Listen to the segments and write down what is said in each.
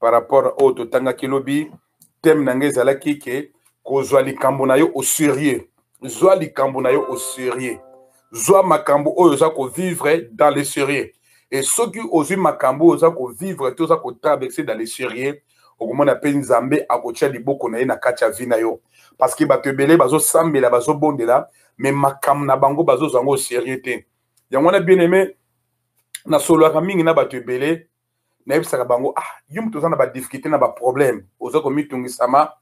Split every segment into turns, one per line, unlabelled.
par rapport oyo oh, totangaki lobi teme na ngai ezalaki ke kozwa likambo na yo au sérieux zwa likambo na yo au sérieux zwa makambo oyo oza kovivre dans le sérieux e soki ozwi makambo oyo oza kovivre to oza kotraverse dans le sérieux okomona mpe nzambe akotya liboko na ye na kati ya vi na yo parce que bato ebele bazosambela bazobondela mais makambo na bango bazozwa yango au sérieux te yango wana bien aime nasololaka mingi na bato ebele nayebisaka bango ah yo moto oza na badifficulté na baproblème oza komitungisama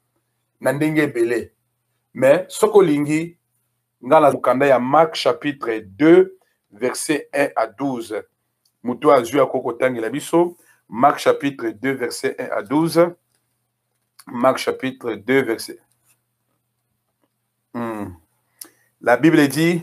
na ndenge ebele mais soki olingi ngai na mokanda ya mark chapitre 2 verset 1 à 12 moto oyo azwi akoki kotangela biso mark chapitre 2 verset 1 à 12 mark chapitre 2 verset hmm. la bible dit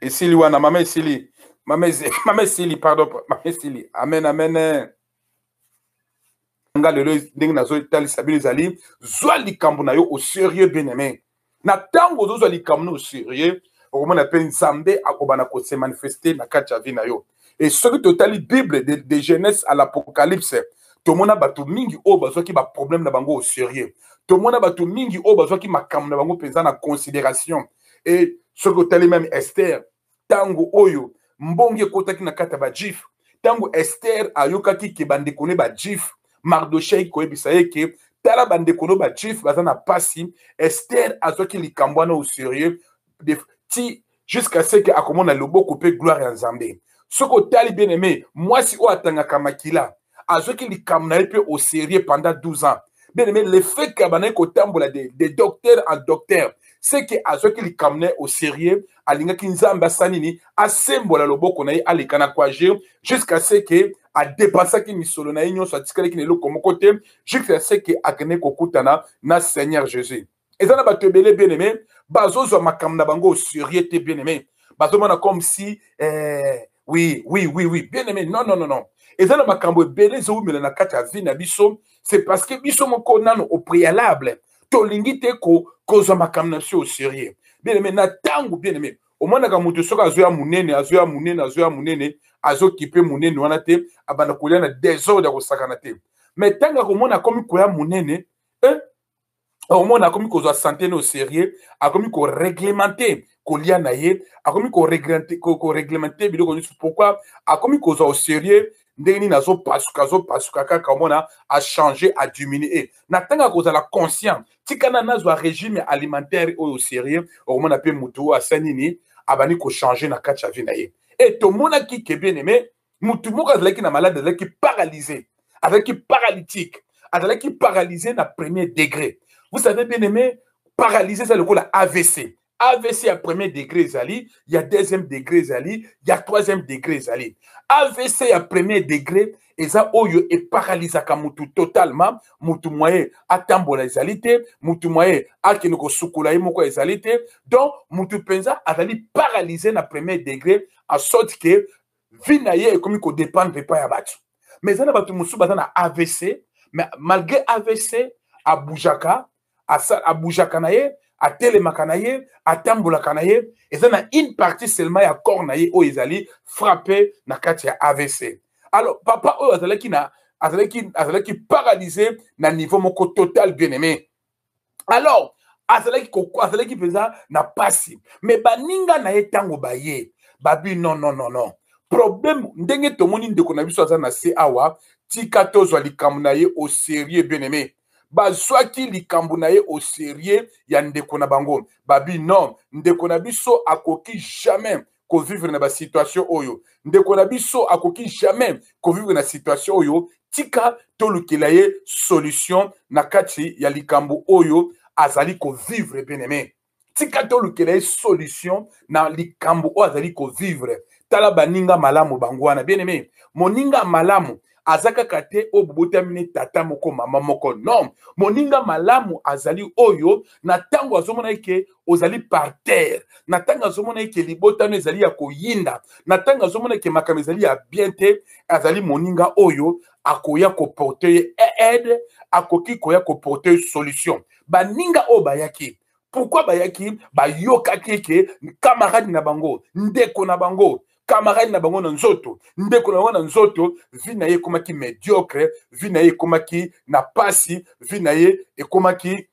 esili wana mama esili mama esili pardon mama esili amen amen eh. nga lelo ndenge nazotalisa bino ezali zwa likambo na yo au sérieux bien aimé na ntango ozozwa likambo na au sérieux okomona mpe nzambe akobana kose manifeste na kati ya vie na yo e soki totali bible de, de genèse à l'apocalypse tomona bato mingi oyo bazwaki baproblème na bango au sérieux tomona bato mingi oyo bazwaki makambo na bango mpenza na considération e soki otali meme ester ntango oyo mbongi ekotaki na kati ya bajife ntango ester ayokaki ke bandeko ne bajife mardochei koyebisa ye ke tala bandeko no bajife baza na mpasi ester azwaki likambo wana au sérieux ti jusqu'à ce que akomona loboko mpe gloire ya nzambe soki otali bien aime mwasi oyo atangaka makila azwaki likambo na ye mpe au sérieux pendant 12 ans bien aime le fait que abandaki kotambola de, de docteur en docteur c'est que azwaki likambo na ye au sérieux alingaki nzambe asala nini asembola loboko na ye aleka na kuage jusqu'à ce que adepasaki misolo na ye nyonso atikalaki na eloko moko te jusqu'à ce que akendeki kokutana na seigneur jésus eza na bato ebele bien aime bazozwa makambo na bango serieux te bien aime bazomona comme si eh, oui oui oui oui bien aime non non non non eza na makambo ebele ezowumela na kati ya vie na biso c'est parce que biso moko nano au préalable tolingi te kozwa makambo na biso au serieux bien aime na ntango bien aime omonaka moto soki azoya monene azoya monene azoya monene azokipe monene wana te abanda kolia na desordre ya kosakana te mais ntango akomona akomi koya monene eh, omona akomi kozwa sante no serieux akomi koreglemente kolia na ye akomi koreglemente biloko nyonso pourkui akomi kozwa au serieux ndenge nini azopasuka azopasuka kaka omona achange adiminue e na ntango ya kozala conscient tikana nazwa régime alimentaire oyo serieux okomona mpe motu oyo asa nini abandi kochange na kati ya vie na ye e tomonaki ke bien aime motu moko azalaki na malade azalaki paralyse azalaki paralytique azalaki paralyse na premier degré vous savez bien aimé paralyse eza lokola avc avc ya premier degré ezali ya deuxième degré ezali ya troisième degré ezali avc ya premier degré eza oyo eparalizaka motu totalement motu moye atambola ezali te motu moye akende kosukola ye moko ezali te donc motu mpenza azali paralyse na premier degré asorte ke vie na ye ekomi ko dépendre epai ya bato mais eza na bato mosusu baza na avc mais malgré avc aboujaka aboujaka na ye atelemaka na ye atambolaka na ye eza na une partie seulement ya corps na ye oyo ezali frappe na kati ya avc alors papa oyo azalaki na azalaki azalaki paralyse na niveau moko total bien aimé alors azalaki azalaki mpenza na mpasi me baninga na ye ntango baye babi non non non non problème ndenge tomoni ndeko na biso aza na se awa tika tozwa likambo na ye au sérieux bien aimé bazwaki likambo na ye au sérieux ya ndeko na bango babi non ndeko na biso akoki jamais ko vivre na ba situation oyo ndeko na biso akoki jamais ko vivre na situation oyo tika tolukela ye solution na kati ya likambo oyo azali ko vivre bien aimé tika tolukela ye solution na likambo oyo azali ko vivre tala baninga malamu bango wana bien aimé moninga malamu aza kaka te oyo bobotami ne tata moko mama moko non moninga malamu azali oyo na ntango azomona eke ozali par terre na ntango azomona eke libota no ezali ya koyinda na ntango azomona eke makambo ezali ya bien te azali moninga oyo akoya koporte ye aide akoki koya koporte ye solution baninga oyo bayaki pourkui bayaki bayokaki eke kamarade na bango ndeko na bango camarade na bango na nzoto ndeko na bango na nzoto vi na ye ekomaki mediocre vi na ye ekomaki na pasi vi na ye ekomaki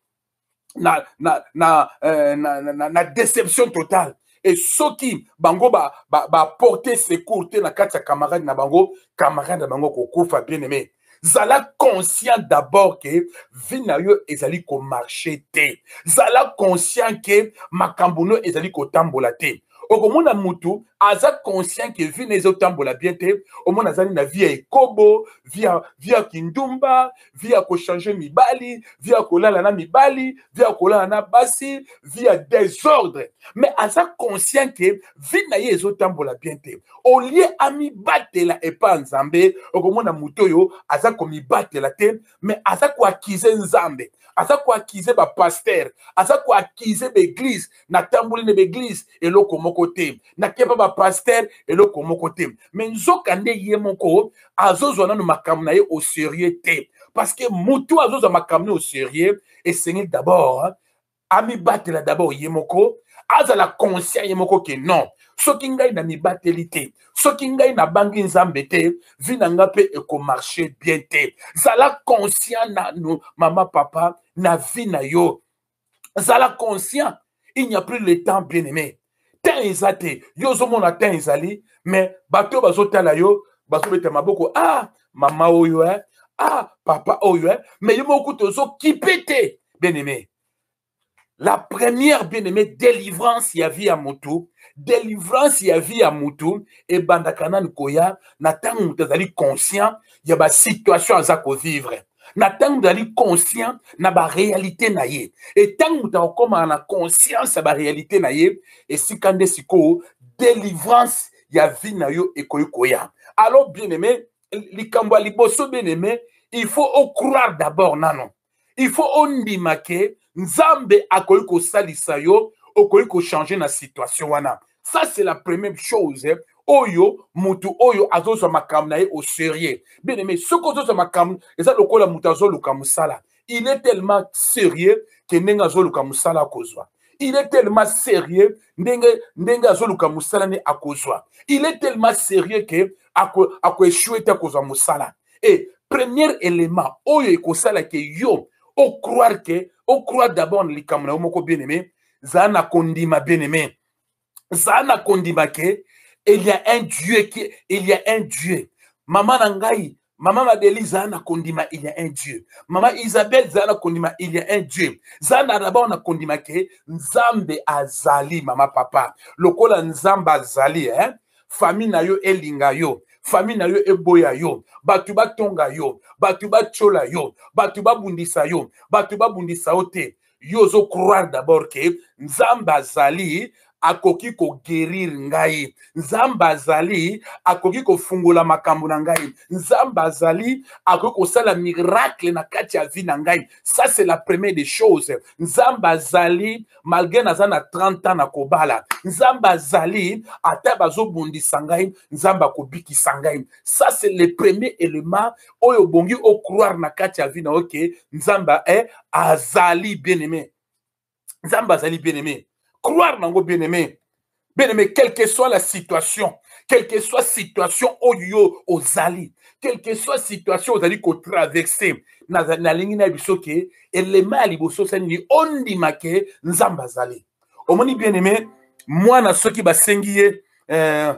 na, na, na, euh, na, na, na, na déception totale e soki bango baporte ba, ba secour te na kati ya camarade na bango camarade na bango kokufa bien aimé zala conscient d'abord ke vie na yo ezali komarche te zala conscient ke makambo no ezali kotambola te okomona mutu aza conscient ke vie na ezotambola bien te omona azali na vie ya ekobo vie ya kindumba vie ya kochange mibali vie ya kolala na mibali vie ya kolala na basi vie ya desordre mais aza conscient ke vie na ye ezotambola bien te olie amibatela epa ya nzambe okomona moto oyo aza komibatela te me aza koakize nzambe aza koakize bapaster aza koakize baeglize natamboli na baeglize eloko moko te nakepa bapaster eloko moko te me nzoka nde ye moko azozwa nano makambo na ye au serieux te parce que moto azozwa makambo ne au serieux esengeli d'abord amibatela d'abord ye moko azala conscient ye moko ke non soki ngai na mibateli te soki ngai nabangi nzambe te vi na ngai mpe ekomarche bien te zala conscient nanu mama papa na vi na yo zala conscient il n'y a plus le temps bien aimé temps eza te yo ozomona temps ezali mais bato oyo bazotala yo bazobeta maboko ah mama oyo eh? ah papa oyo eh? mais yo moko kutu ozokipe te bien aimé la première bien aimé délivrance ya vie ya motu délivrance ya vie ya motu ebandaka nani koya na ntango moto azali conscient ya basituation aza kovivre na ntango moto azali conscient na barealité na ye e ntango moto akokomaka na conscience ya barealité na ye esika nde sikoyo délivrance ya vie na yo ekoki koya alors bien aimé likambo ya liboso bien aimé il faut ocroire d'abord nano il faut ondima ke nzambe akoki kosalisa yo okoki kochange na situation wana ça c'est la première chose eh, oyo mutu oyo azozwa makambo na ye au sérieux bien aimé soki ozozwa makambo eza lokola mutu azoluka mosala il est tellement sérieux ke ndenge azoluka mosala akozwa il est tellement sérieux ndenge ndenge azoluka mosala nde akozwa il est tellement sérieux ke akoechue te akozwa mosala e premier élément oyo ekosala ke yo ocroire ke ocroire d'abord na likambo na yo moko bien aimé zala na kondima bien aimé zala na kondima ke il y a un dieu qui il y a un dieu mama na ngai mama madeli zala na kondima il y a un dieu mama isabelle zala na kondima il y a un dieu zala na dabord na kondima ke nzambe azali mama papa lokola nzambe azali eh? famille na yo elinga yo famille na yo eboya yo bato batonga yo bato batyola yo bato babundisa yo bato babundisa yo te yo ozo croire d'abord ke nzambe azali akoki kogerire ngai nzambe azali akoki kofungola makambo na ngai nzambe azali akoki kosala miracle na kati ya vie na ngai ça c'est la première des choses nzambe azali malgré naza na 30 ans na kobala nzambe azali ata bazobundisa ngai nzambe akobikisa ngai ça c'est le premier élément oyo obongi o croire na kati ya vie na yo ke nzambe eh, azali bien aimé nzambe azali bien aimé croire nango bien aimé bien aimé quelle que soit la situation quelle que soit situation oyo ozali quelle que soit situation ozali kotraverse nalingi na biso ke elema ya liboso osali nini ondima ke nzambe azali omoni bien aimé mwana soki basengi ye eh,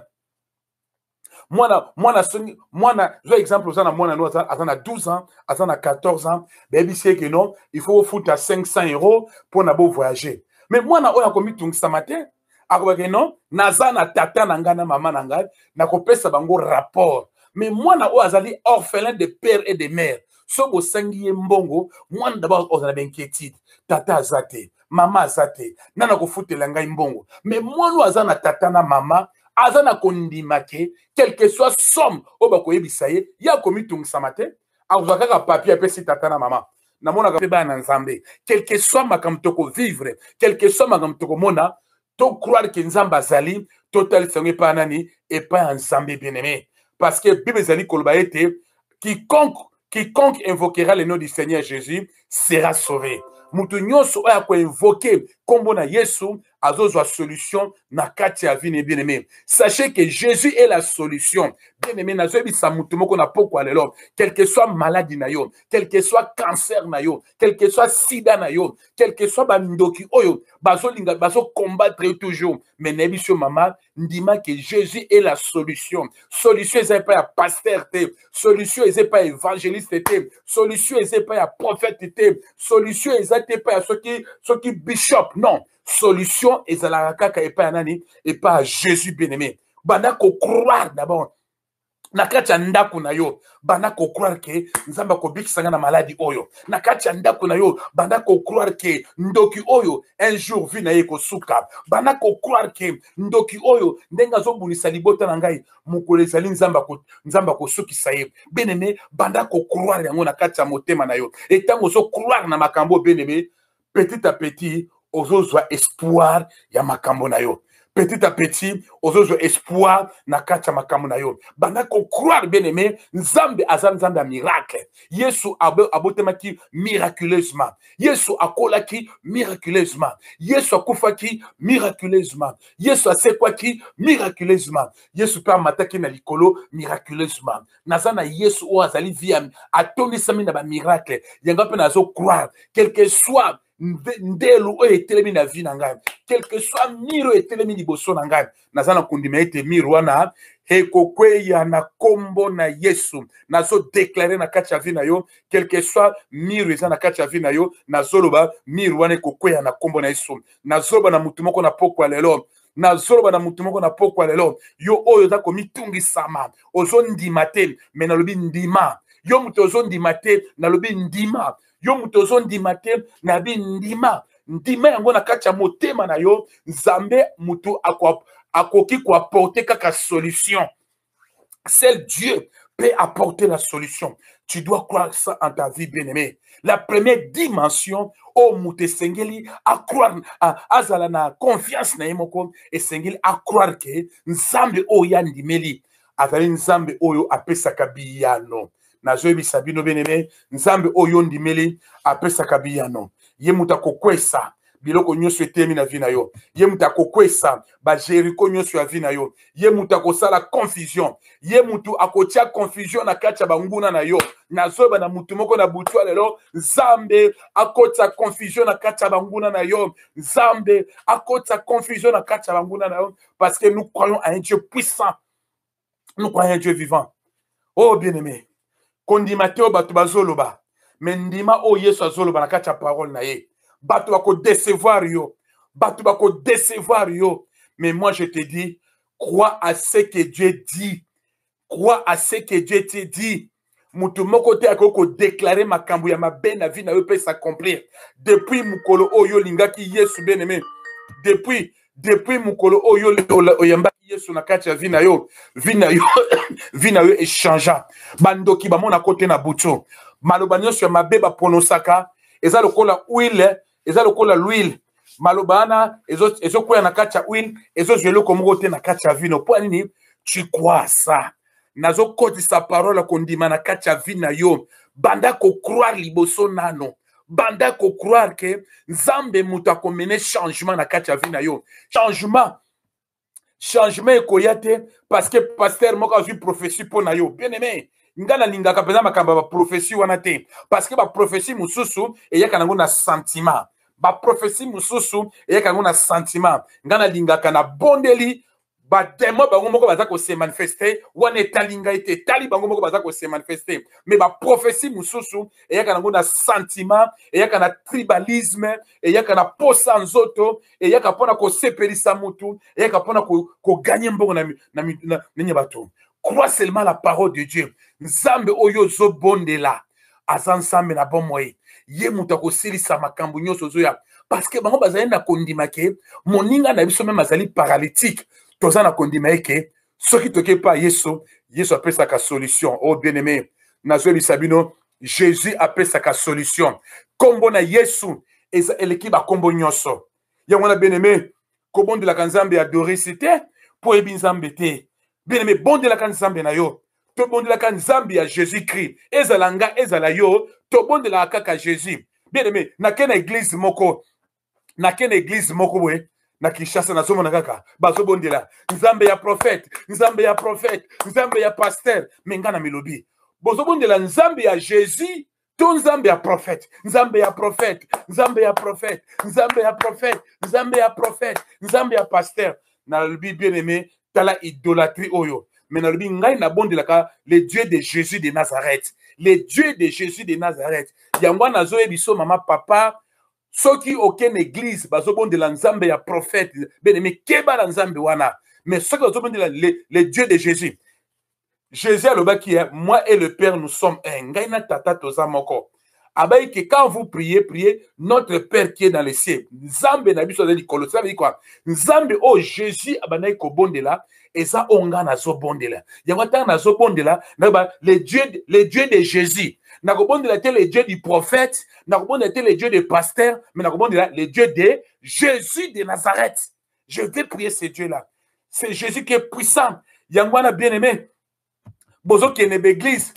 mwana mwana songi mwana zwa exemple oza na mwana no aza, aza na 12 ans aza na 14 ans bayebisi ye ke non il faut ofuta 500 euro mpo na bovoyage mais mwana oyo akomitungisama te akobake non naza na tata na ngai na mama na ngai nakopesa bango rapport mais mwana oyo azali orphelin de père et de mère so bosengi ye mbongo mwana dabord ozala bainquiétude tata aza te mama aza te na nakofutela ngai mbongo me mwana oyo aza na tata na mama aza na kondima ke quelque soit somme oyo bakoyebisa ye ye akomitungisama te akozwa kaka papier apesi tata na mama namonaka mpe bana na nzambe quelque soit makambo tokovivre quelque soit makambo tokomona to croire ke nzambe azali totalisa yango epai ya nani epai ya nzambe bien aime parce que bible ezali koloba ete quiconque quiconque invoquera le nom du seigneur jésus sera sauvé moto nyonso oyo akoinvoke nkombo na yesu azozwa solution na kati ya vie ne bien aime sachez que jésus est la solution bien aime nazoyebisa moto moko na pokwa lelo quelque soit maladi na yo quelque soit cancer na yo quel que soit sida na yo quel que soit bandoki oyo bazolinga bazocombatre yo toujours mais nayebi so mama ndima ke jésus est la solution solution eza epai ya paster te solution eza epai ya évangéliste te solution eza epai ya prophète te solution eza te epai ya soki soki bishop non solution ezalaka kaka epai ya nani epai ya jésus bien aimé banda kocroire d'abord na kati ya ndako na yo banda kocroire ke nzambe akobikisa nga na maladi oyo na kati ya ndako na yo banda kocroire ke ndoki oyo un jour vie na ye ekosuka banda kocroire ke ndoki oyo ndenge azobundisa libota na ngai mokolo ezali nzambe akosukisa ye beneme banda kocroire yango na kati ya motema na yo etango ozocroire na makambo beneme petit à petit ozozwa espoir ya makambo na yo petit à petit ozozwa espoir na kati ya makambo na yo banda kocroire bien aimé nzambe aza nzambe ya miracle yesu abotemaki miraculeusement yesu akolaki miraculeusement yesu akufaki miraculeusement yesu asekwaki miraculeusement yesu mpe amataki na likolo miraculeusement naza na yesu oyo azali vie ya atondisami na bamiracle yango mpe nazo croire quelque soit ndelo oyo etelemi na vie na ngai quelque soit mire oyo etelemi liboso na ngai naza na kondima ete mire wana ekokweya na nkombo na yesu nazodeklare na kati ya vi na yo quelque soit mire eza na kati ya vi na yo nazoloba mire wana ekokweya na nkombo na yesu nazoloba na motu moko na pokwa lelo nazoloba na moto moko na pokwa lelo yo oyo oza komitungisama ozondima te me nalobi ndima yo moto ozondima te nalobi ndima yo moto ozondima te nabi ndima ndima yango na kati ya motema na yo nzambe moto akoki koaporte kaka solution Seul Dieu peut apporter la solution. Tu dois croire ça en ta vie, bien-aimé. La première dimension, oh Moutesengeli, à croire, à azala na confiance na yemoko, et Sengeli à croire que Nzambe oya oh, ndimeli, azali Nzambe oyo oh, apesaka biyano. nazoyebisa bino benene nzambe oyo ondimeli apesaka biyano ye moto akokwesa biloko nyonso etemi na vi na yo ye moto akokwesa bajeriko nyonso ya vi na yo ye moto akosala confusion ye moto akotya confusion na kati ya banguna na yo nazoyeba na motu moko na butu ya lelo nzambe akotisa confusion na kati ya banguna na yo nzambe akotisa confusion na kati ya banguna na yo parce que nous croyons à un dieu puissant nous croyons dieu vivant oh bien aimé kondima te oyo bato bazoloba me ndima oyo yesu azoloba na kati ya parole na ye bato bakodecevoir yo bato bakodecevoir yo mais moi je te dis crois à ce que dieu dit crois à ce que dieu te dit moto moko te akoki kodeklare makambo ya mabe na vie na yo mpe s'accomplir depuis mokolo oyo olingaki yesu beneme depuis depuis mokolo oyo oyambaki yesu na kati ya vi na yo vi na yo vi na yo echangea bandoki bamonako te na butu maloba nyonso ya mabe bapronosaka eza lokola huile eza lokola l'huile maloba wana ezokwea na kati ya huile ezozwa eloko moko te na kati ya vino mpo ya nini chikwasa nazokotisa parole ya kondima na kati ya vi na yo banda kocroire liboso nano banda kocroire ke nzambe moto akomene changement na kati ya vi na yo changement changement ekoya te parce que pasteur moko azwi prophetie mpo na yo bien aimé ngai nalingaka mpenza makambo ya baprofesi wana te parce que baprofesi mosusu eyaka nango na sentiment baprofesi mosusu eyaka yango na sentiment ngai nalingaka na bondeli bademo bango moko baza kose manifeste wana etali ngai te etali bango moko baza kose manifeste me baprofesi mosusu eyaka nango na sentiment eyaka na tribalisme eyaka na posa nzoto eyaka mpona kosepelisa mutu eyaka mpona koganye ko mbongo na, na, na, na, na, na bato crois seulement la parole de dieu nzambe oyo ozobondela aza nzambe na bomoi ye moto akosilisa makambo nyonso ozoya parceke bango bazali na kondima ke moninga na biso meme azali paralytique toza na kondima eke soki toke epa yesu yesu apesaka solution o oh, bien aimé nazoyebisa bino jésus apesaka solution nkombo na yesu eza eleki bakombo nyonso yango wana bien aimé kobondelaka nzambe ya dorisi te mpo oyebi nzambe te bien aimé bondelaka nzambe na yo tobondelaka nzambe ya jésus christ ezala nga ezala yo tobondelaka kaka jésus bien aimé nake na eglize moko nake na eglize moko boye na kinshasa nazomona kaka bazobondela nzambe ya profete nzambe ya profete nzambe ya paster me ngai na milobi bozobondela nzambe ya jésus to nzambe ya profete nzambe ya profete nzambe ya profete nzambe ya profete nzambe ya profete nzambe ya paster nalobi bien aimé tala idolatrie oyo me nalobi ngai nabondelaka le dieu de jésus de nazareth le dieu de jésus de nazareth yango wana nazoyebi so mama papa soki oke na eglise bazobondela nzambe ya prophète benemi keba na nzambe wana mais soki bazobondela le, le dieu de jésus jésus alobaki eh, moi et le père nous sommes un ngai na tata toza moko abayi ke quand vous priez priez notre père qui est dans les cieux nzambe na biso aza likolo cela veut dire quoi nzambe oyo oh, jésus abandaki kobondela eza oyo ngai nazobondela yango ntango nazobondela nayeba le dieu, le dieu de jésus nakobondela te le dieu du prophète nakobondela te le dieu de pasteur mais nakobondela le dieu de jésus de nazareth je vais prier ce dieu là c'est jésus qui est puissant yango wana bien aimé bozokende baeglise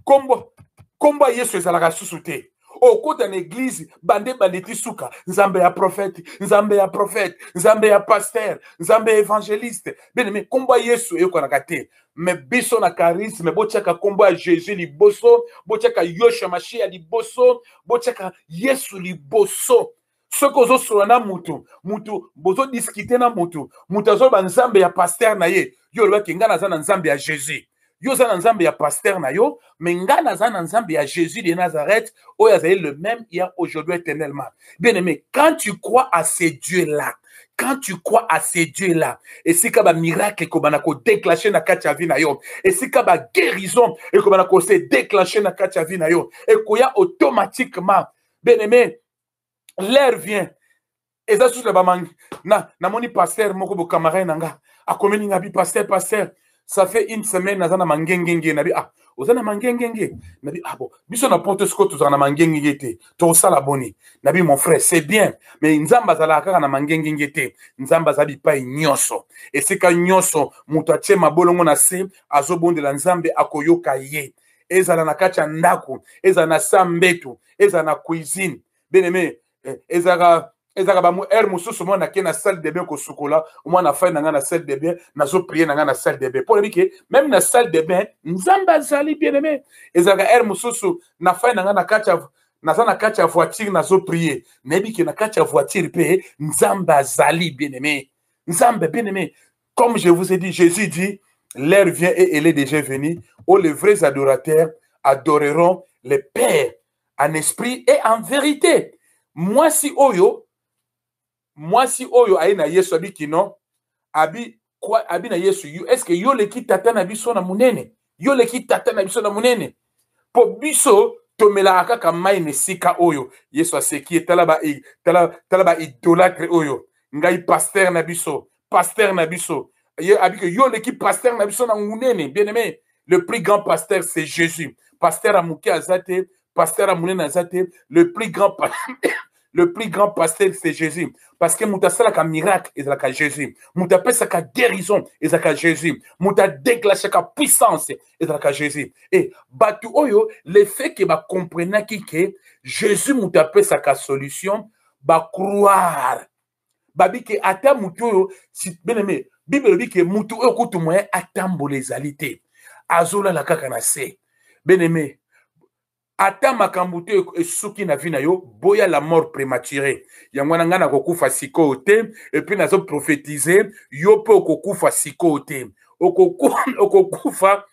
kombo kombo ya yesu ezalaka susu te okota na eglise bande bande ti suka nzambe ya profete nzambe ya profete nzambe ya pasteur nzambe ya evangeliste beneme kombo ya yesu eyokanaka te me biso na charisme botyaka kombo ya jesus liboso botyaka yosha mashiya liboso botyaka yesu liboso soki ozosolola na mutu mutu bozodiskite na mutu mutu azwa banzambe ya paster na ye yo olobaki ngai naza na nzambe ya jésus yo oza na nzambe ya paster na yo me ngai naza na nzambe ya jésus de nazareth oyo azali le même hier aujourd'hui éternellement bien aimé quand tu crois à ces dieux là quand tu crois à ces dieux là esika bamiracle ekobana kodeclenche na kati ya vi na yo esika baguérison ekobana kose declenche na kati ya vi na yo ekoya automatiquement bien aimé l'heure vient eza susu na bamangi na namoni pasteur moko bokamarade na nga akomeli nga bi pasteur pasteur ça fait une semaine naza na mangengenge na bi ah oza na mangengenge na bi ah bon biso na poto sikoyo tozala na mangengenge te tokosala boni na bi mon frère c'est bien mais nzambe azalaka kaka na mangengenge te nzambe aza bipai nyonso esika nyonso moto atie mabolongo na se azobondela nzambe akoyoka ye ezala na kati ya ndako ezala na sa mbetu ezala na cuisine bien aimé eh, ezalaka ezalaka ba heure mosusu mwana ake na salle de bain kosukola mwana afai na ngai na salle de bain nazoprie na ngai na salle de bain mpo nayebi ke meme na salle de bain nzambe azali bien aimé ezalaka heure mosusu nafai na ngai na kati ya naza na kati ya voiture nazoprie nayebi ke na kati ya voiture mpe nzambe azali bien aimé nzambe bien aimé Comme je vous ai dit, Jésus dit, l'heure vient et elle est déjà venue, où les vrais adorateurs adoreront le Père en esprit et en vérité. Moi si oyo, moi si oyo aye na Yesu abi kino, abi quoi abi na Yesu, est-ce que yo leki tata na biso na munene? yo leki tata na biso na monene mpo biso tomelaka kaka mai na esika oyo yesu aseki ye tala baidolatre tala, tala ba oyo ngai paster na biso paster na biso ye abike yo oleki paster na biso na monene bien aimé le plus grand pasteur c'est jésus paster ya moke aza te pasteur ya monene aza te le plus grand le plus grand pasteur c'est jésus parce que moto asalaka miracle ezalaka jésus moto apesaka guérison ezalaka jésus moto adeglasaka puissance ezalaka jésus e bato oyo le fait ke bacomprenaki ke jésus moto apesaka solution bacroire babi ke ata motu oyo beneme bible elobi ke motu oyo kutu moyen atambola ezali te azolala kaka na se beneme ata makambo te esuki na vie na yo boya la mort prématuré yango wana ngai nakokufa sikoyo te epuis nazoprofetize yo mpe okokufa sikoyo te okokufa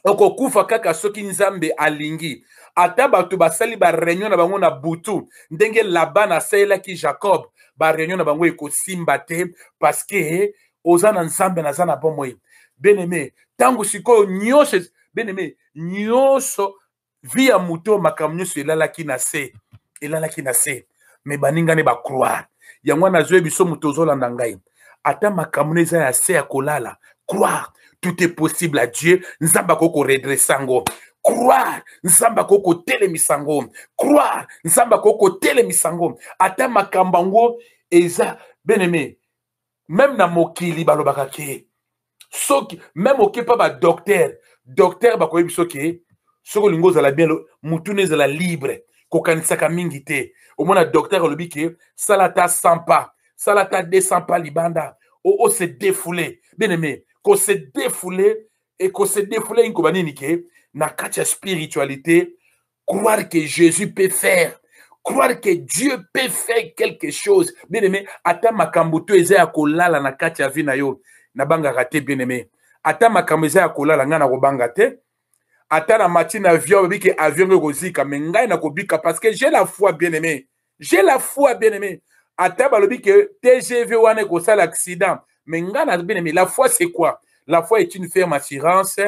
okokufa kaka soki nzambe alingi ata bato basali bareunion na bango na butu ndenge labana asalelaki jacob bareunion na bango ekosimba te parceke oza na nzambe naza na bomoi beneme ntango sikoyo nyonso beneme nyonso vie ya moto oyo makambo nyonso elalaki na se elalaki na se me baninga ne bacroire yango wana azwi biso moto ozolanda ngai ata makambo no eza ya se ya kolala croire tout est possible à dieu nzambe akoki koredresse yango croire nzambe akoki kotelemisa yango croire nzambe akoki kotelemisa yango ata makambo yango eza beneme meme na mokili balobaka ke soki meme okepa badoktere doktere bakoyebi soki soki olingi ozala bien motuna ezala libre kokanisaka mingi te omona doktere alobi ke sala ata 100 pas sala ata 200 pas libanda ose oh, oh, defoule bien aime kose defoule ekose defoule inkoba nini ke na kati ya spiritualité Croire que Jésus peut faire. Croire que Dieu peut faire quelque chose. Bien aimé, ata makambo to eza ya kolala na kati ya vie na yo. Na banga raté bien aimé. Ata makambo eza ya kolala nga na kobanga te. Ata na matin avion babi que avion ko zika mais ngai na kobika parce que j'ai la foi bien aimé. j'ai la foi bien aimé ata balobi ke tgv wana ekosala accident mais ngai na bien aimé la foi c'est quoi la foi est une ferme assurance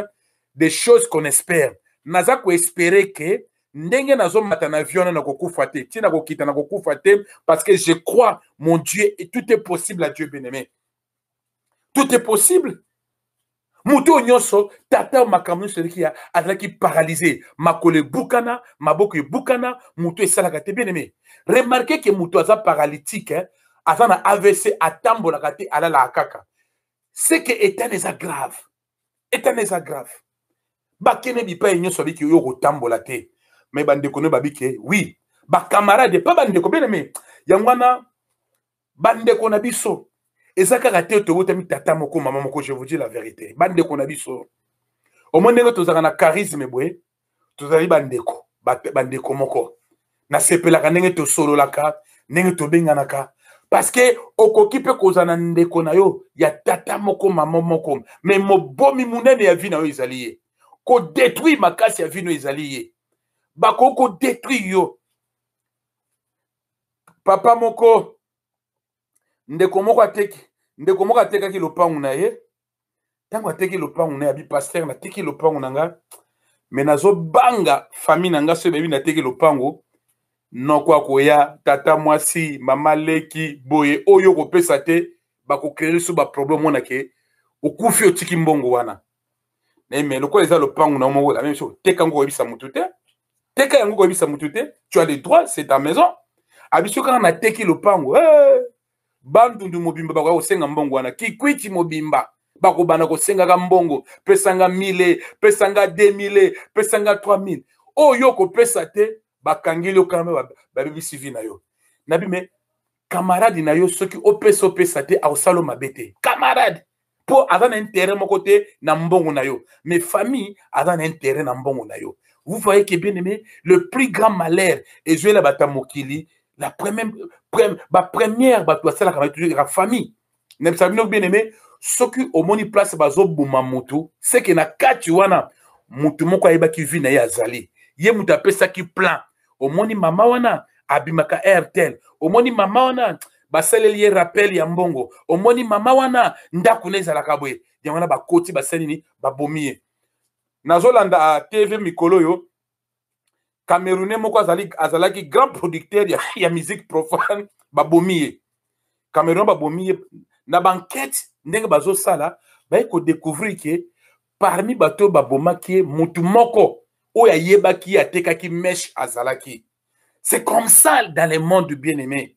des choses qu'on espère naza koespere ke ndenge nazomata na avion wana nakokufa te ntina kokita nakokufa te parce que je crois mon dieu tout est possible à dieu bien aimé tout est possible moto oyo nyonso tata oyo makambo nyonso eleki ya azalaki paralyse makolo ebukana maboko ebukana moto esalaka te bien aime remarke ke moto aza paralytique eh? aza na avc atambolaka te alalaka kaka seke etana eza grave etana eza grave bakende bipai nyonso abiki oyo kotambola te me bandeko no babike wi bakamarade mpe bandeko bien aime yango wana bandeko na biso eza kaka te tobotami tata moko mama moko je vous dis la vérité bandeko na biso omoi ndenge tozalaka na charisme boye tozali bandeko bandeko moko nasepelaka ndenge tosololaka ndenge tobenganaka parceke okoki mpe kozala na ndeko na yo ya tata moko mama moko me mobomi monene ya vi na yo ezali ye kodetruire makasi ya vino ezali ye bakoki kodetruire yo papa moko ndeko moko ateki ndeko moko atekaki lopangu na ye ntango ateki lopangu na ye abi paster nateki lopangu na ngai me nazobanga famille na ngai soki bayebi nateki lopangu noko akoya tata mwasi mama leki boye oyo okopesa te bakokree lisu baproblème mona ke okufi otiki mbongo wana mais mais lokola eza lopangu na moko la même chose teka yango koyebisa mutu te teka yango koyebisa mutu te tu as le droit c'est ta maison abiso kaka nateki lopangu hey! Eh, bandundu mobimba bakoya kosenga mbongo wana kikwiti mobimba bakobanda kosengaka mbongo pesanga 1000 pesanga 2000 pesanga 3000 oyo okopesa te bakangeli yo kama babebisi vi na yo nabi me camarade na yo soki opesa opesa te akosala mabe te camarade mpo aza na intérêt moko te na mbongo na yo mais famille aza na intérêt na mbongo na yo vous voyez que bien aimé le plus grand malheur ezwela bato ya mokili la première, première bato basalaka bato ezalaka famille na bisa bino bien aime soki omoni place bazoboma motu seke na kati wana motu moko ayebaki vi na ye azali ye moto apesaki plan omoni mama wana abimaka airtel omoni mama wana basaleli ye rappel ya mbongo omoni mama wana ndako na ezalaka boye yango wana bakoti basali nini babomi ye nazolanda ah, tv mikolo oyo camerounais moko azali azalaki grand producteur ya, ya musique profane babomi ye camerounais babomi ye na bankete ndenge bazosala baye kodecouvrir ke parmi bato oyo babomaki ye motu moko oyo ayebaki ye atekaki meshe azalaki c'est comme ça dans le monde bien aimé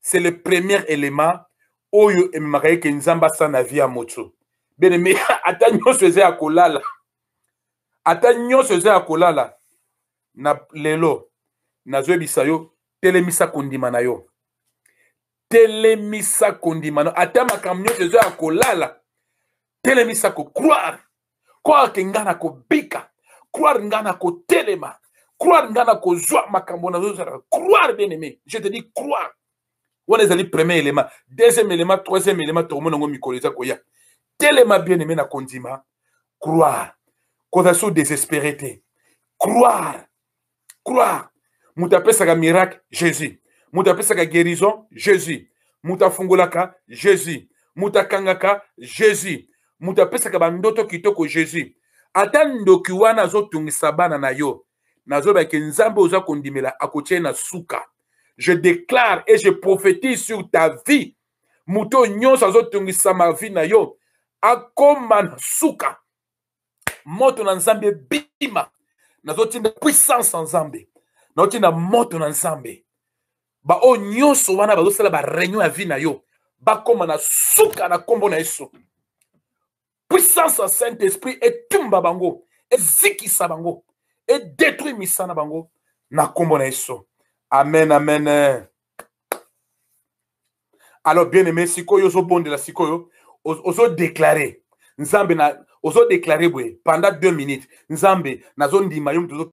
c'est le premier élément oyo ememaka ye ke nzambe asala na vie ya moto beneme ata nyonso eza ya kolala ata nyonso eza ya kolala na lelo nazoyebisa yo telemisa kondima na yo telemisa kondima na ata makambo nyonso eza ya kolala telemisa kocroire croire ke ngai nakobika croire ngai nakotelema croire ngai nakozwa makambo nazozala croire bien aimé je te dis croire wana ezali premier élément deuxième élément troisième élément tokomona yango mikolo eza koya telema bien aimé na kondima croire kozala so désespéré te croire croire moto apesaka miracle jésus moto apesaka guérison jésus moto afungolaka jésus moto akangaka jésus moto apesaka bandoto kitoko jésus ata ndoki wana azotungisa bana na yo nazoloba ke nzambe oza kondimela akotie na suka je déclare et je prophétise sur ta vie moto oyo nyonso azotungisa ma vie na yo akoma na suka moto na nzambe ebima nazotinda puissance ya nzambe nazotinda moto na nzambe baoyo nyonso wana bazosala bareunion ya vie na yo bakóma na suka na nkombo na yesu puissance ya saint esprit etumba bango ezikisa bango edetruit misana bango na nkombo na yesu amen amen alors bien aimé sikoyo ozobondela sikoyo ozodeklare nzambe na ozodeklare boye pendant deux minutes nzambe nazondima yo moto